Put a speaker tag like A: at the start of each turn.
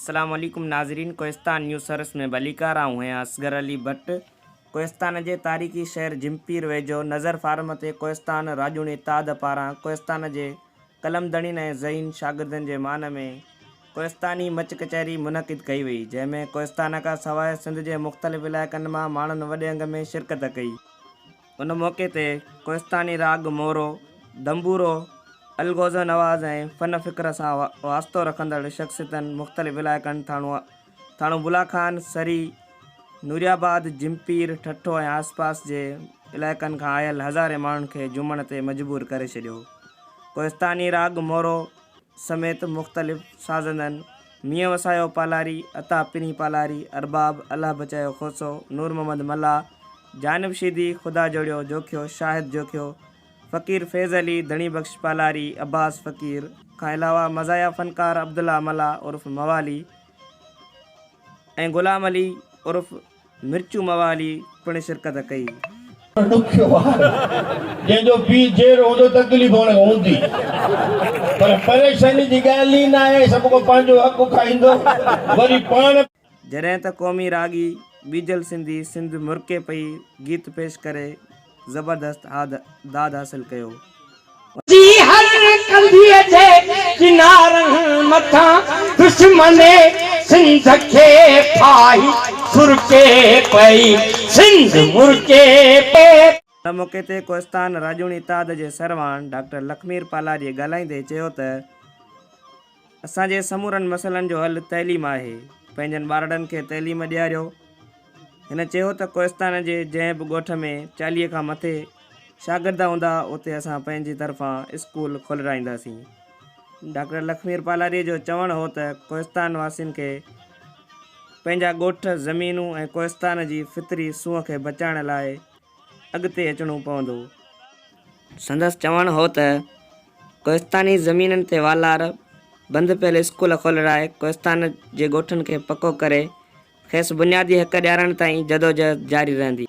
A: السلام عليڪم ناظرين ڪوهستان نيوز سروس ۾ ڀليڪار آئون هيان اصغر علي ڀٽ ڪوهستان جي تاريخي شهر جھمپير ويجهو نظر فارم تي ڪوهستان راڄوڻي اتحاد پاران ڪوهستان جي قلمدڙين ۽ ذهين شاگردن جي مان ۾ ڪوهستاني مچ ڪچهري منعقد ڪئي وئي، جنهن ۾ ڪوهستان کان سواء سنڌ جي مختلف علائقن مان ماڻهن وڏي انگ ۾ شرڪت ڪئي. ان موقعي تي ڪوهستاني راڳ مورو، دنبورو، الغوزه نواز ۽ فن فڪر سان واسطو رکندڙ شخصيتن مختلف علائقن ٿاڻو ٿاڻو بلا خان، سري، نوريآباد، جمپير، ٺٽو ۽ آس پاس جي علائقن کان آيل هزارين ماڻهن کي جهومڻ تي مجبور ڪري ڇڏيو. ڪوهستاني راڳ مورو سميت مختلف سازندن مينهن وسايو پالاري، عطا پرين پالاري، ارباب، الله بچايو کوسو، نور محمد ملاح، جانب شيدي، خدا جوڙيو جوکيو، شاهد جوکيو، فقير فيض علي، ڌڻي بخش پالاري، عباس فقير کان علاوه مزاحيه فنڪار عبدالله ملاح عرف موالي ۽ غلام علي عرف مرچو موالي پڻ شرڪت ڪئي. ڏکيو
B: ٻار جنهن جو پيء جيئرو هوندو تڪليف هن کي هوندي پر پريشاني جي ڳالهه ئي ناهي سڀ ڪو پنهنجو حق کائيندو وري پاڻ جڏهن ته قومي
A: راڳي ٻيجل سنڌي سنڌ مرڪي پئي گيت پيش ڪري زبردست داد حاصل ڪيو ان جي هر ڪنڌيء جي ڪنارن
C: مٿان دشمن سنڌ کي ڦاهي سرڪي پئي سنڌ مرڪي پئي. ان موقعي تي
A: ڪوهستان راڄوڻي اتحاد جي سرواڻ ڊاڪٽر لکمير پالاڏيء ڳالهائيندي چيو ته. اسان جي سمورن مسئلن جو حل تعليم آهي، پنهنجن ٻارڙن کي تعليم ڏياريو. هن چيو ته ڪوهستان جي جنهن به ڳوٺ ۾ چاليهه کان مٿي شاگرد هوندا اتي اسان پنهنجي طرفان اسڪول کولرائينداسين. ڊاڪٽر لکمير پالاري جو چوڻ هو ته ڪوهستان واسين کي پنهنجا ڳوٺ، زمينون ۽ ڪوهستان جي فطري سونهن کي بچائڻ لاء اڳتي اچڻو پوندو. سندس چوڻ هو ته ڪوهستاني زمينن تي والار بند پيل اسڪول کولرائي ڪوهستان جي ڳوٺن کي پڪو ڪري کيس بنيادي حق ڏيارڻ تائين جدوجهد جاري رهندي.